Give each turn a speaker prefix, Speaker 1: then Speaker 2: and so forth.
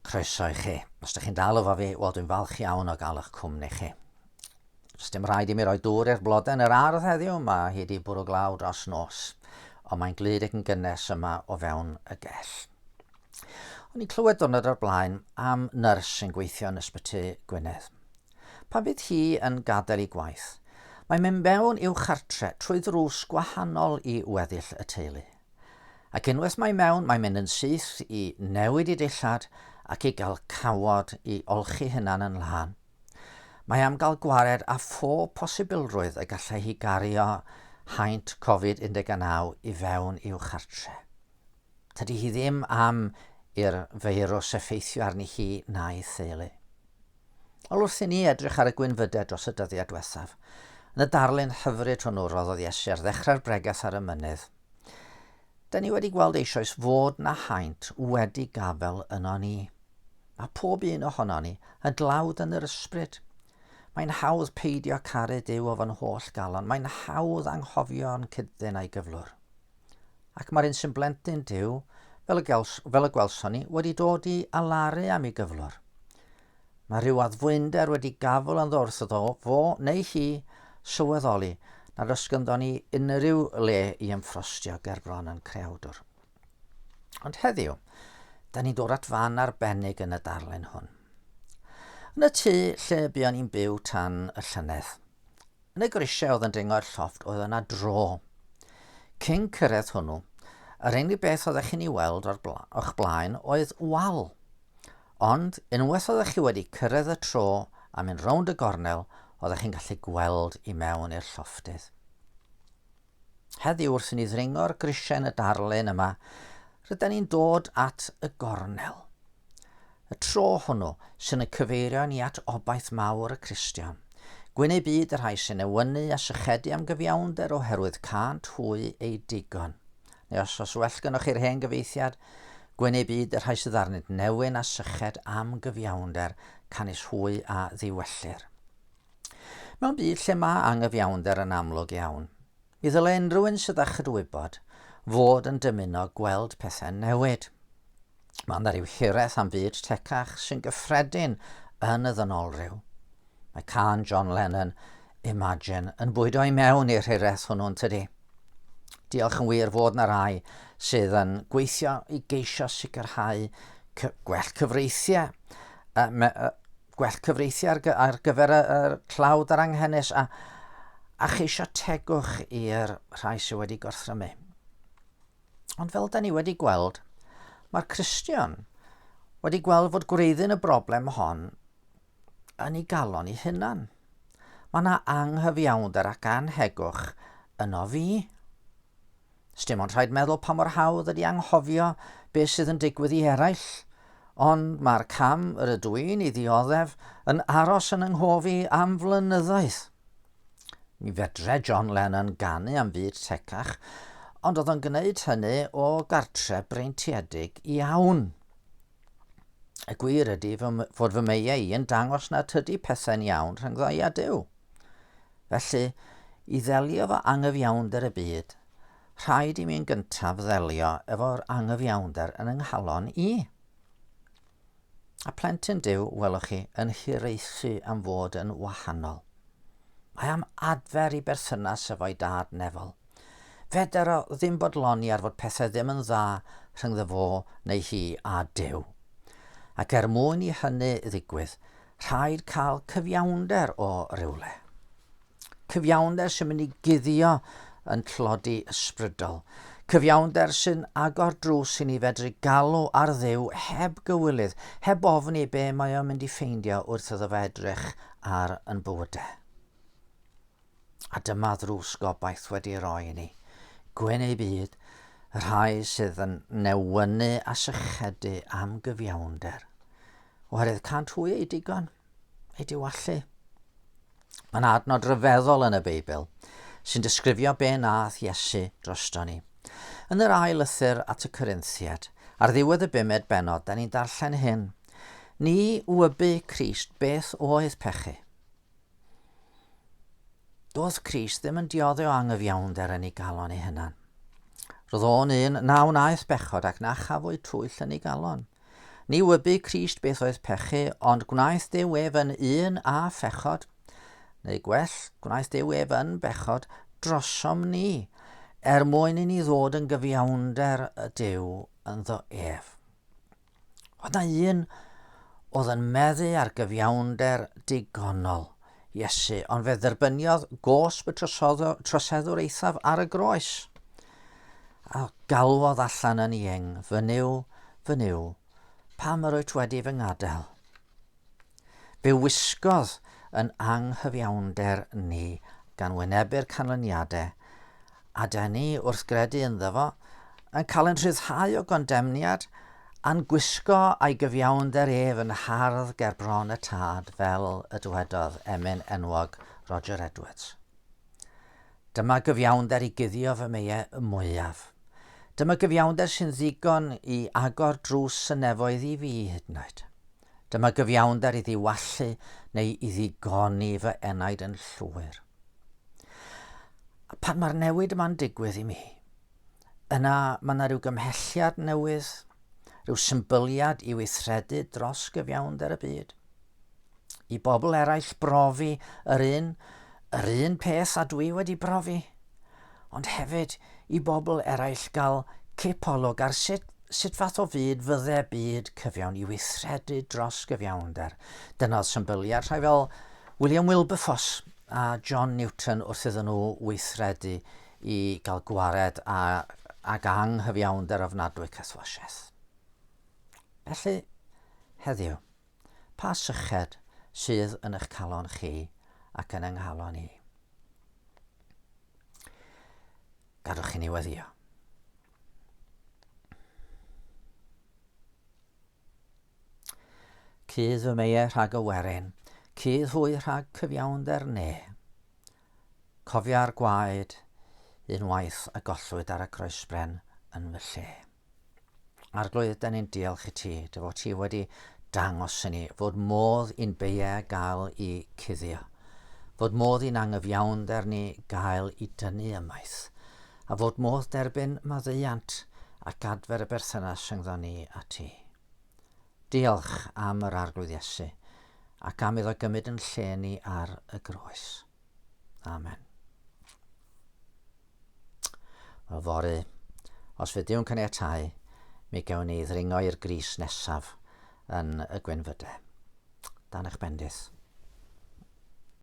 Speaker 1: Croeso i chi. Os ydych chi'n dal efo fi, wel dwi'n falch iawn o gael eich cwmni chi. Os dim rhaid i mi roi dŵr i'r blodau yn yr ardd heddiw, mae hi wedi bwrw glaw dros nos, ond mae'n glyd ac yn gynnes yma o fewn y gell. O'n i'n clywed dwrnod o'r blaen am nyrs sy'n gweithio yn ysbyty Gwynedd. Pan bydd hi yn gadael ei gwaith, mae'n mynd mewn i'w chartre trwy ddrws gwahanol i weddill y teulu. Ac unwaith mae mewn, mae'n mynd yn syth i newid i dillad ac i gael cawod i olchi hunan yn lân. Mae am gael gwared â phob posibilrwydd y gallai hi gario haint Covid 19 i fewn i'w chartre. Tydi hi ddim am i'r feirws effeithio arni hi na'i theulu. Wel, wrth i ni edrych ar y gwynfydedd dros y dyddiau diwethaf, yn y darlun hyfryd hwnnw roddodd Iesu ar ddechrau'r bregeth ar y mynydd, da ni wedi gweld eisoes fod na haint wedi gafel yno ni. Mae pob un ohono ni yn dlawd yn yr ysbryd. Mae'n hawdd peidio caru Dyw o fan holl galon. Mae'n hawdd anghofio'n cydddyn a'i gyflwr. Ac mae'r un sy'n blentyn Duw, fel y, gels, fel y gwelson ni, wedi dod i alaru am ei gyflwr. Mae rhyw addfwynder wedi gafel ynddo wrth iddo fo neu hi sylweddoli nad os gynddo ni unrhyw le i ymffrostio gerbron yn creawdwr. Ond heddiw, da ni'n dod at fan arbennig yn y darllen hwn. Yn y tŷ lle buon ni'n byw tan y llynedd, Yn y grisiau oedd yn dringo i'r llofft oedd yna dro. Cyn cyrraedd hwnnw, yr unig beth oeddech chi'n ei weld o'r bla, o'ch blaen oedd wal. Ond, unwaith oeddech chi wedi cyrraedd y tro a mynd rownd y gornel, oeddech chi'n gallu gweld i mewn i'r llofftydd. Heddiw wrth i ni ddringo'r grisiau yn y darlun yma, rydan ni'n dod at y gornel. Y tro hwnnw sy'n y cyfeirio ni at obaith mawr y Cristion. Gwyn ei byd y rhai sy'n ewynu a sychedu am gyfiawnder oherwydd cânt hwy ei digon. Neu os os well gynnwch chi'r hen gyfeithiad, gwyn ei byd y rhai sydd arnynt newyn a syched am gyfiawnder, canys hwy a ddiwellir. Mewn byd lle mae anghyfiawnder yn amlwg iawn, mi ddylai unrhyw un sydd â chydwybod fod yn dymuno gweld pethau'n newid. Mae yna rhyw hiraeth am fyd tecach sy'n gyffredin yn y ddynolryw. Mae can John Lennon, Imagine, yn bwydo i mewn i'r hiraeth hwnnw'n tydi. Diolch yn wir fod na rai sydd yn gweithio i geisio sicrhau gwell cyfreithiau gwell cyfreithiau ar, ar gyfer y, y tlawd a'r anghenus a, a cheisio tegwch i'r rhai sydd wedi gorthrymu. Ond fel da ni wedi gweld, mae'r Cristion wedi gweld fod gwreiddyn y broblem hon yn ei galon ei hunan. Mae yna anghyfiawnder ac anhegwch yno fi. Sdim ond rhaid meddwl pa mor hawdd ydy anghofio beth sydd yn digwydd i eraill, ond mae'r cam yr ydw i'n ei ddioddef yn aros yn yng nghof i am flynyddoedd. Mi fedre John Lennon ganu am fyd tecach, ond oedd o'n gwneud hynny o gartre breintiedig iawn. Y gwir ydy fod fy meiau i yn dangos na tydi pethau'n iawn rhyngddo i a Duw. Felly, i ddelio efo angyfiawnder y byd, rhaid i mi yn gyntaf ddelio efo'r angyfiawnder yn yng nghalon i. A plentyn Duw, welwch chi, yn hiraethu am fod yn wahanol. Mae am adfer i berthynas efo'i dad nefol. Feder o ddim bodloni ar fod pethau ddim yn dda rhyngddo fo neu hi a Duw. Ac er mwyn i hynny ddigwydd, Rhaid cael cyfiawnder o rywle. Cyfiawnder sy'n mynd i guddio yn tlodi ysbrydol. Cyfiawnder sy'n agor drws i ni fedru galw ar ddew heb gywilydd, heb ofni be mae o'n mynd i ffeindio wrth iddo fe edrych ar yn bywydau. a dyma ddrws gobaith wedi ei roi i ni. Gwyn ei byd, y rhai sydd yn newynu a sychedu am gyfiawnder. Oherwydd cant hwy ei digon, ei diwallu. Mae'n adnod rhyfeddol yn y Beibl sy'n disgrifio be nath Iesu drosto ni. Yn yr ail lythyr at y Corinthiad, ar ddiwedd y bumed benod, da ni'n darllen hyn. Ni wybu Crist beth oedd pechu. Doedd Cris ddim yn diodde o angyfiawnder yn ei galon ei hunan. Roedd o'n un na wnaeth bechod ac na chafwyd twyll yn ei galon. Ni wybu Crist beth oedd pechu, ond gwnaeth Dew ef yn un a phechod. Neu gwell, gwnaeth Dew ef yn bechod drosom ni, er mwyn i ni ddod yn gyfiawnder y Dew ynddo ef. Oedd na un oedd yn meddu ar gyfiawnder digonol Iesu, ond fe dderbyniodd gosb y troseddwr eithaf ar y groes. A galwodd allan yn ieng, fy niw, fy niw, pam yr wyt wedi fy ngadael? Fe wisgodd yn anghyfiawnder ni gan wynebu'r canlyniadau, a da ni, wrth gredu ynddo fo, yn cael yn rhyddhau o gondemniad, a'n gwisgo a'i gyfiawnder ef yn hardd ger bron y tad, fel y dywedodd emyn enwog Roger Edwards. Dyma gyfiawnder i guddio fy meie mwyaf. Dyma gyfiawnder sy'n ddigon i agor drws y nefoedd i fi hyd yn oed. Dyma gyfiawnder i ddiwallu neu i ddigoni fy enaid yn llwyr. A pan mae'r newid yma'n digwydd i mi, yna mae yna rhyw gymhelliad newydd, rhyw symbyliad i weithredu dros gyfiawnder y byd. I bobl eraill brofi yr un, yr un peth a dwi wedi brofi – ond hefyd i bobl eraill gael cipolwg ar sut sut fath o fyd fydde byd cyfiawn i weithredu dros gyfiawnder. Dyna oedd symbyliad rhai fel William Wilberforce a John Newton wrth iddyn nhw weithredu i gael gwared a, ag anghyfiawnder ofnadwy cythwasiaeth. Felly, heddiw, Pa syched sydd yn eich calon chi ac yn yng nghalon i? Gadwch chi ni weddio. Cydd fy meie rhag y werin, cydd hwy rhag cyfiawnder ne. Cofia'r gwaed unwaith a gollwyd ar y croesbren yn fy lle. Arglwydd, da ni'n diolch i ti, dy fod ti wedi dangos i ni fod modd i'n beiau gael i cuddio, fod modd i'n angyfiawnder ni gael i dynnu ymaith, a fod modd derbyn maddeuant ac adfer y berthynas rhyngddo ni a ti. Diolch am yr arglwydd Iesu ac am iddo gymryd yn lle ni ar y groes. Amen. Yfory, os fyddiw'n caniatáu, mi gewn ni ddringo i'r gris nesaf yn y Gwenfyde. Dan eich bendith.